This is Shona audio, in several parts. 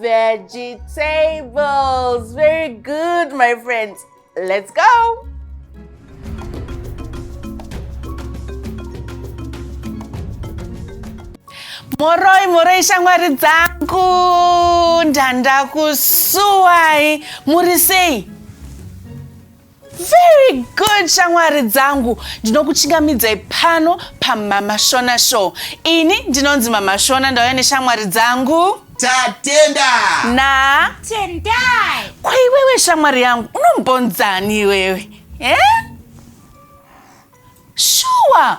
Vegetables, very good my friends. Let's go. moroi moroi shamwari dzangu ndandakusuwai muri sei Very good shamwari dzangu, ndinokuchingamidzai pano paMama Shona Show. Ini ndinonzi Mama Shona, ndauya neshamwari dzangu Tatenda na Tendai. kwaiwewe shamwari yangu unombonzani iwewe eh? shuwa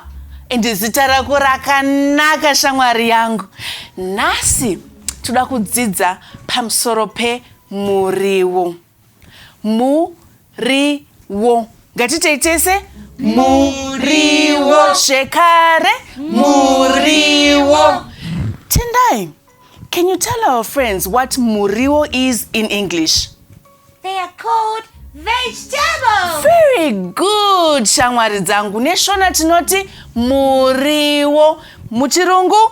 ende zita rako rakanaka shamwari yangu nhasi toda kudzidza pamusoro pemuriwo Muriwo. Ngatitei tese. Muriwo. Zvekare. Muriwo. Tendai. Can you tell our friends what muriwo is in English? They are called vegetables. Very good, shamwari dzangu. Neshona tinoti muriwo. Muchirungu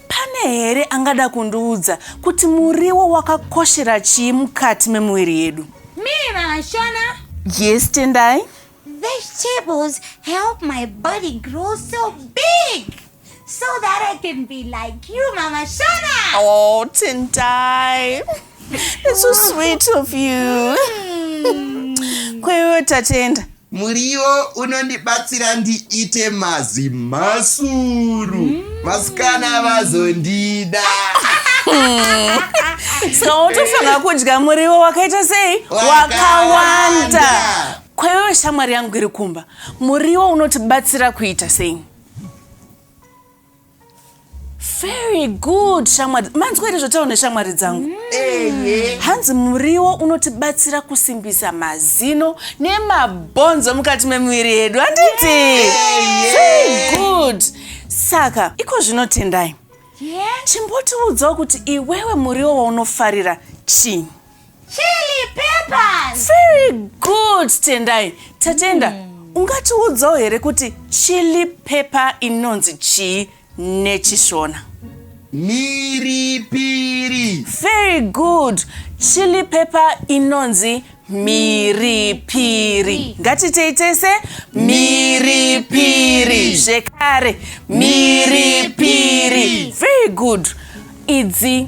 Pane here angada kundiudza kuti muriwo wakakoshera chii mukati memuviri yedu? Mira, Shona. Yes, Tendai. Vegetables help my body grow so big so that I can be like you, Mama Shona. Oh, Tendai. It's so sweet of you. Mm. Kwewe tatenda. Muriwo unondibatsira ndiite mazimhasuru vasikana vazondida. Saka wotofanira kudya muriwo wakaita sei? Wakawanda. Wakawanda. Kwaiwewe shamwari yangu iri kumba, muriwo unotibatsira kuita sei? very good shamwari manzwa here zvotaura neshamwari dzangu mm. hanzi muriwo unotibatsira kusimbisa mazino nemabhonzo mukati memuviri yedu handiti very good saka iko zvino tendai chimbotiudzawo kuti iwewe muriwo waunofarira chii Chili peppers. Very good Tendai. Tatenda, mm. ungatiudzawo here kuti chili pepper inonzi chii neChishona? Miripiri. Very good. Chili pepper inonzi miripiri ngatitei tese miripiri zvekare miripiri very good idzi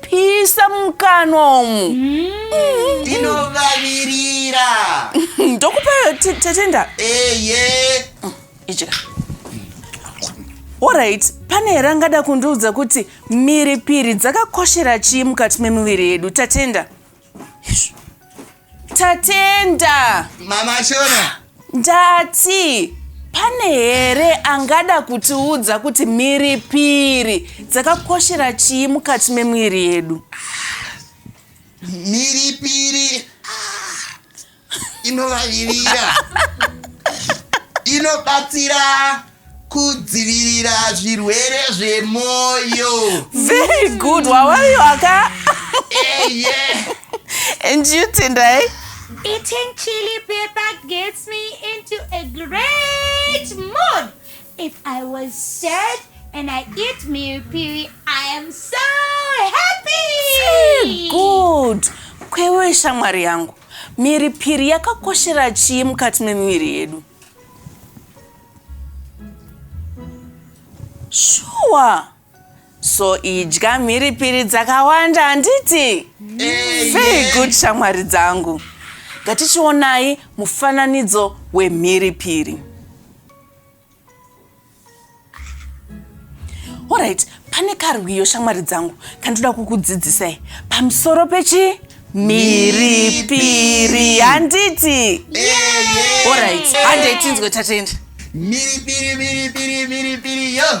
pisa mukanwa umu ndinovavirira ndokupa te- tetenda eye idya orit pane here angada kundiudza kuti mhiripiri dzakakoshera chii mukati memuviri yedu tatenda Tatenda. Mama Shona. Ndati pane here angada kutiudza kuti mhiripiri dzakakoshera chii mukati memwiri yedu? Mhiripiri inovavirira inobatsira kudzivirira zvirwere zvemoyo very good wawaiwaka eye and you tendai Eating chili pepper gets me into a great mood. If I was sad and I eat meal piri, I am so happy. good kwewe shamwari yangu Mhiripiri yakakoshera chii mukati memiviri yedu? Shuwa. So idya mhiripiri dzakawanda handiti? Very good shamwari dzangu. Ngatichionai mufananidzo wemhiripiri. Alright, pane karwiyo shamwari dzangu kandinoda kukudzidzisai pamusoro pechi mhiripiri handiti Alright, handei tinzwe tatenda. Miri piri miri piri miri piri yo.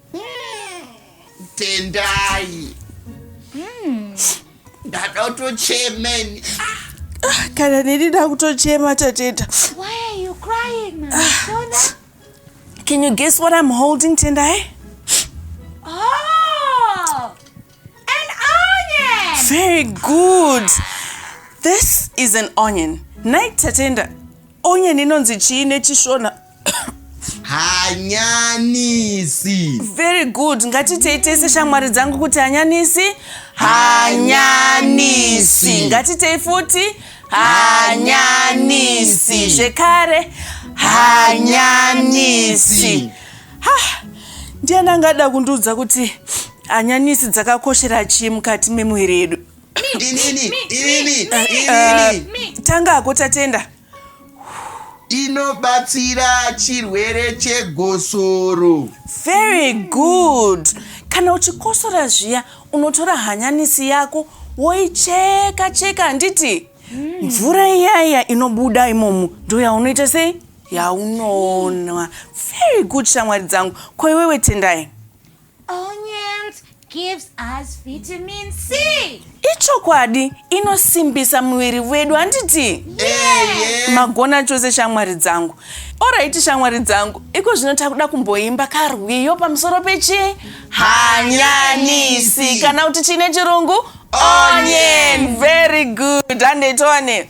tendai ndada kutochemeni Ah, kana neni ndakutochema tateta Why are you crying, Mama Sona? can you guess what i'm holding tendai Oh, an onion. very good this is an onion night tatenda onion inonzi chii nechishona hanyanisi very good ngatitei tese shamwari dzangu kuti hanyanisi hanyanisi ngatitei futi hanyanisi zvekare hanyanisi ha ndiani angada kundiudza kuti hanyanisi dzakakoshera chii mukati memuviri yedu inini inini inini tanga ako tatenda inobatsira chirwere chegosoro very good kana uchikosora zviya unotora hanyanisi yako woicheka cheka handiti mvura iyaiya inobuda imomo ndo yaunoita sei yaunonwa very good shamwari dzangu ko iwewe tendai Onions gives us vitamin C. Ichokwadi inosimbisa muviri wedu handiti? Yeah. Magona chose shamwari dzangu. Oraiti shamwari dzangu, iko zvino takuda kumboimba karwiyo pamusoro pechi hanyanisi kana kuti chine chirungu onion. Very good. Handei tione.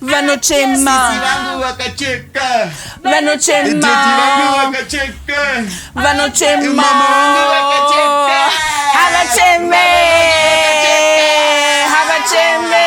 vanochema Sisi vangu vakacheka Tete vangu vanochema vakacheka vanochema Mama wangu vakacheka. havacheme havacheme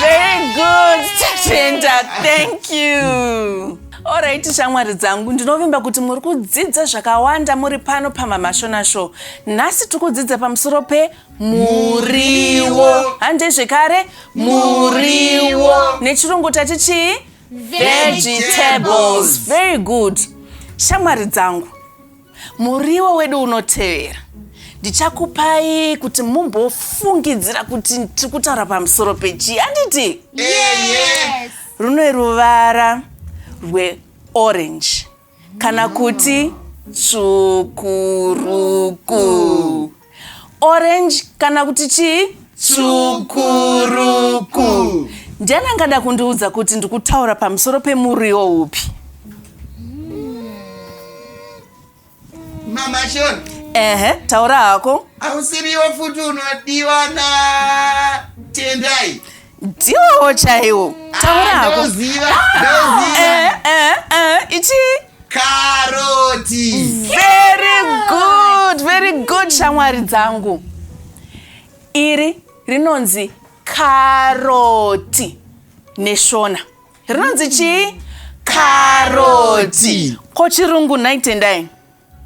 very good tatenda thank you orit shamwari dzangu ndinovimba kuti muri kudzidza zvakawanda muri pano pamamashona show nhasi tiri kudzidza pamusoro pe muriwo hande zvekare muriwo nechirungu tati chii vegetables very good shamwari dzangu muriwo wedu unotevera ndichakupai kuti mumbofungidzira kuti tiri kutaura pamusoro pechii handiti rune ruvara rweorange kana kuti tsvukuruku orange kana kuti chii tsvukuruku ndiani angada kundiudza kuti ndikutaura pamusoro pemuriwo upi mama shona ehe taura hako ausiriwo futi unodiwa na tendai ndiwowo chaiwo taurako ichi karoti very good very good shamwari dzangu iri rinonzi karoti neshona rinonzi chii karoti ko chirungu nhai tendai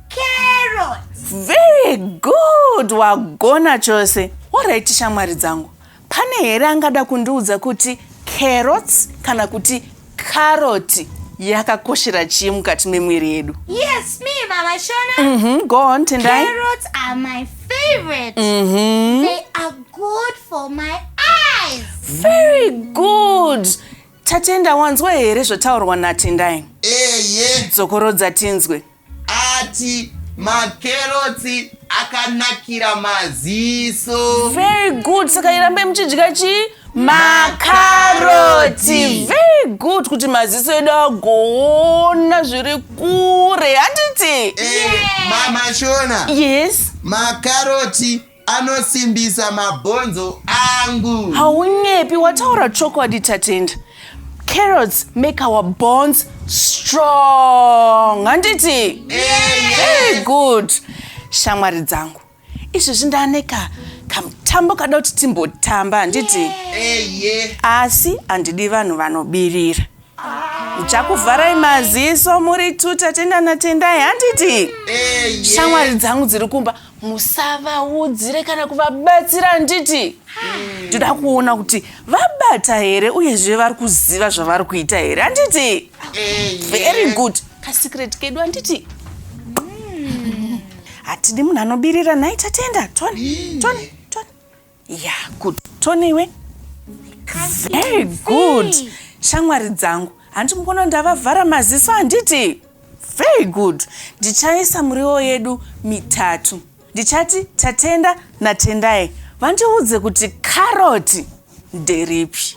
carrots very good wagona chose orit shamwari dzangu pane here angada kundiudza kuti carrots kana kuti caroti yakakoshera chii mukati memwiri yedu yes me mama shona mm -hmm. go on tendai carrots are my favorite mm -hmm. they are good for my eyes very good Tatenda wanzwa here zvotaurwa naTendai? Eye. Dzokorodza tinzwe. Ati makerotsi akanakira maziso. Very good. Saka irambe muchidya chii? Makaroti. Very good kuti maziso edu agoona zviri kure. Handiti? Eh, Mama Shona. Yes. Makaroti. anosimbisa mabhonzo angu haunyepi wataura chokwadi tatenda carrots make our bonds strong handiti very good shamwari dzangu izvezvi ndaaneka kamutambo kada kuti timbotamba handiti asi handidi vanhu vanobirira yeah. chakuvharai maziso muri two tatenda natendai handiti eh, shamwari dzangu dziri kumba musavaudzire kana kuvabatsira handiti ndoda kuona kuti vabata here uyezve vari kuziva zvavari kuita here handiti eh, very good kasecret kedu handiti hatidi munhu anobirira nhai tatenda tony tony Yeah, good. Tony iwe? Very good. Shamwari dzangu. Hanti mukono ndavavhara maziso handiti? Very good. Ndichaisa muriwo yedu mitatu. Ndichati Tatenda naTendai vandiudze kuti karoti nderipi.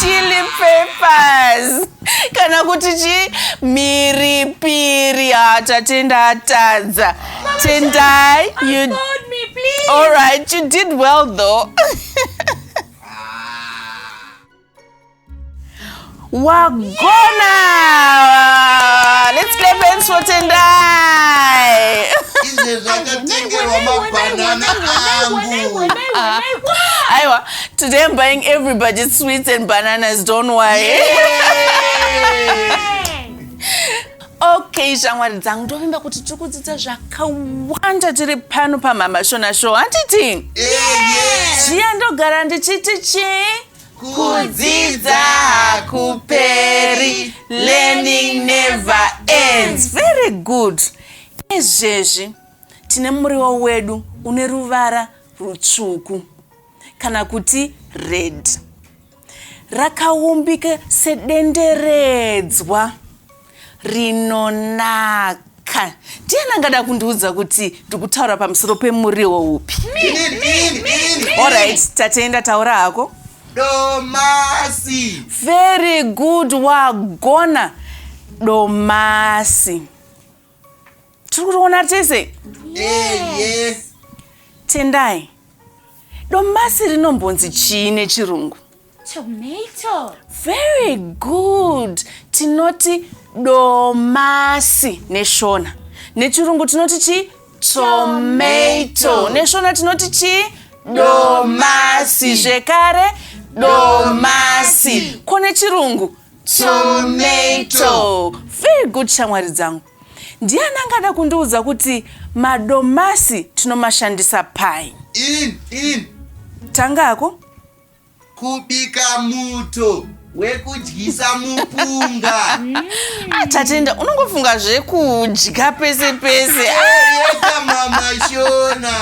chili papers kana kuti chii mhiripiri ha tatenda atadza tendai you... all right you did well though wagona let's clap hands for tendai izvezvi akatengerwa mabhanana angu aiwa today i'm buying everybody sweets and bananas don't worry okay shamwari dzangu ndovimba kuti tiri kudzidza zvakawanda tiri pano pamhamashona show handiti zviya ndogara ndichiti chii kudzidza hakuperi learning never ends very good izvezvi tine muriwo wedu une ruvara rutsvuku kana kuti red rakaumbika sedenderedzwa rinonaka ndiani angada kundiudza kuti ndikutaura pamusoro pemuriwo upi orit tatenda taura hako domasi very good wagona domasi tiri kutoona tese yes. tendai domasi rinombonzi chii nechirungu tomato very good tinoti domasi neshona nechirungu tinoti chii tomato neshona tinoti chii domasi zvekare domasi ko nechirungu tomato very good shamwari dzangu Ndiani angada kundiudza kuti madomasi tinomashandisa pai? In, in. Tangako? Kubika muto wekudyisa mupunga. Ah, Tatenda, unongofunga zvekudya pese pese. Yeka mama Shona.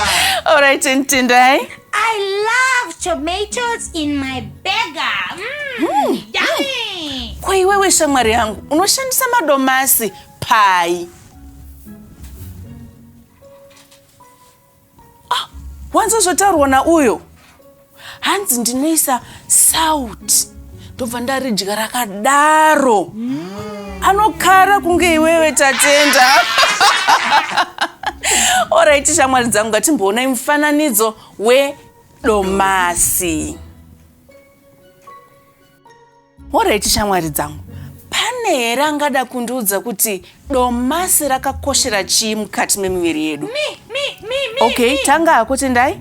All right, and Tendai. I love tomatoes in my burger. Mm, mm. Yummy. Kwa iwewe shamwari yangu unoshandisa madomasi pai? Ah, wanzwa zvotaurwa na uyo? Hanzi ndinoisa sauti ndobva ndaridya rakadaro anokara kunge iwewe tatenda oraiti shamwari dzangu ngatimboonai mufananidzo wedomasi oraiti shamwari dzangu pane here angada kundiudza kuti domasi rakakoshera chii mukati memiviri yedu okay tanga hako tendai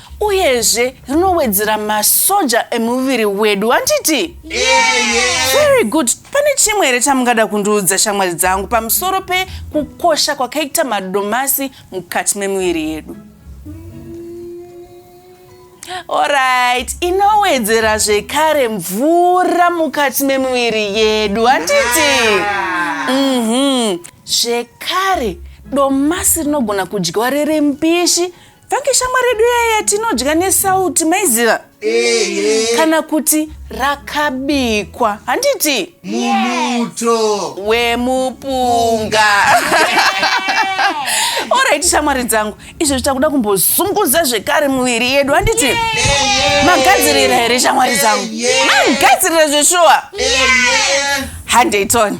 uyezve rinowedzera masoja emuviri wedu handiti yeah, yeah. very good pane chimwe here chamungada kundiudza shamwari dzangu pamusoro pekukosha kwakaita madomasi mukati memuviri yedu orit inowedzera zvekare mvura mukati memuviri yedu handiti mhm. zvekare yeah. mm -hmm. domasi rinogona kudyiwa riri mbishi Thank shamwari yedu yeye yatinodya nesauti maiziva kana kuti rakabikwa handiti mumuto wemupunga orit shamwari dzangu izvo zvichakuda kumbozunguza zvekare muviri yedu handiti magadzirira here shamwari dzangu magadzirira zveshuwa handei tony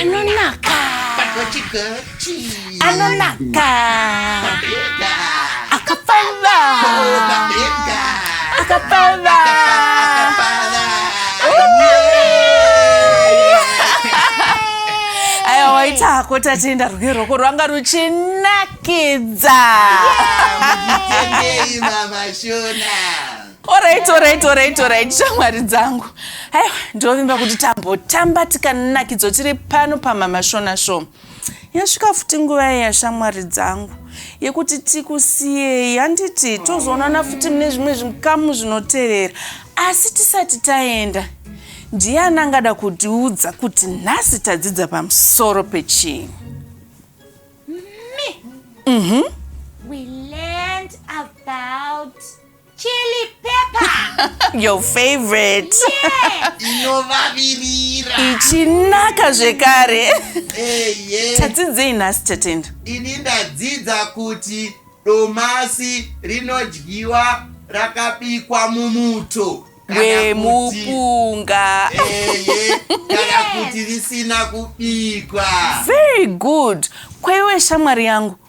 anonaka anonaka akapfava akapfava aya waita hako tatenda rwuke rwoko rwanga ruchinakidza Mutendei mama Shona. Alright, alright, alright, alright. Shamwari dzangu. Aiwa, ndovimba kuti tambotamba tikanakidzo tiri pano pamama Shona Show. Yasvika futi nguva iya shamwari dzangu yekuti tikusiyei handiti tozoonana futi mune zvimwe zvikamu zvinotevera. Asi tisati taenda, ndiani angada kutiudza kuti nhasi tadzidza pamusoro pechii? Me. Mhm. Mm we learned about Chili pepper. Your favorite. Yeah. Inovavirira. Ichinaka zvekare. Eh, yeah. Tadzidzei nhasi Tatenda? Ini ndadzidza kuti domasi rinodyiwa rakabikwa mumuto wemupunga kana kuti risina kubikwa. Very good. Kwaiwe shamwari yangu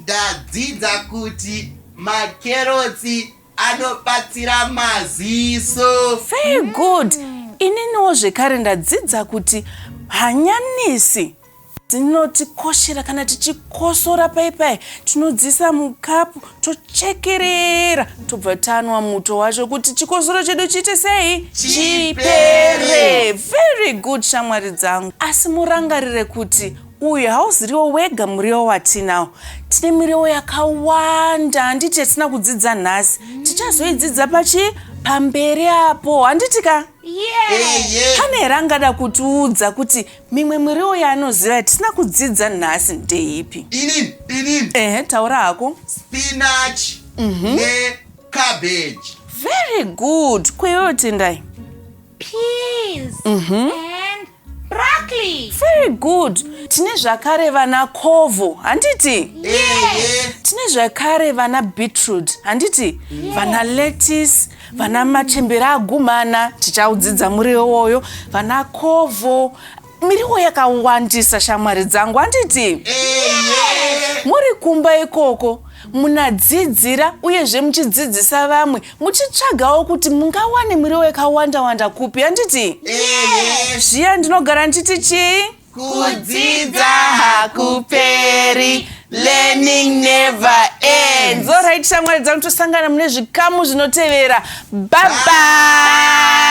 Ndadzidza kuti makerotsi anobatsira maziso. Very good. Ininiwo zvekare ndadzidza kuti hanyanisi dzinotikoshera kana tichikosora pai pai tinodziisa mukapu tochekerera tobva tanwa muto wacho kuti chikosoro chedu chiite sei Chipere. very good shamwari dzangu asi murangarire kuti uyu hauziriwo wega muriwo watinawo tine miriwo yakawanda handiti yatina kudzidza nhasi mm. tichazoidzidza pachi pamberi apo handiti ka yeah. pane here angada kutiudza kuti mimwe miriwo yaanoziva yatisina kudzidza nhasi ndeipi ini ini ehe taura hako spinach mm -hmm. necabbage very good kweyoyo tendai peas mm -hmm. Broccoli. Very good. Tine zvakare vana kovo, handiti? Yeah. Tine zvakare vana beetroot, handiti? Yeah. Vana lettuce, vana machembere agumana, tichaudzidza muriwo woyo, vana kovo, miriwo yakawandisa shamwari dzangu handiti yeah. muri kumba ikoko munadzidzira uyezve muchidzidzisa vamwe muchitsvagawo kuti mungawane muriwo yakawanda wanda kupi handiti zviya ndinogara ndichiti chii kudzidza hakuperi learning never ends orit shamwari dzangu tosangana mune zvikamu zvinotevera babai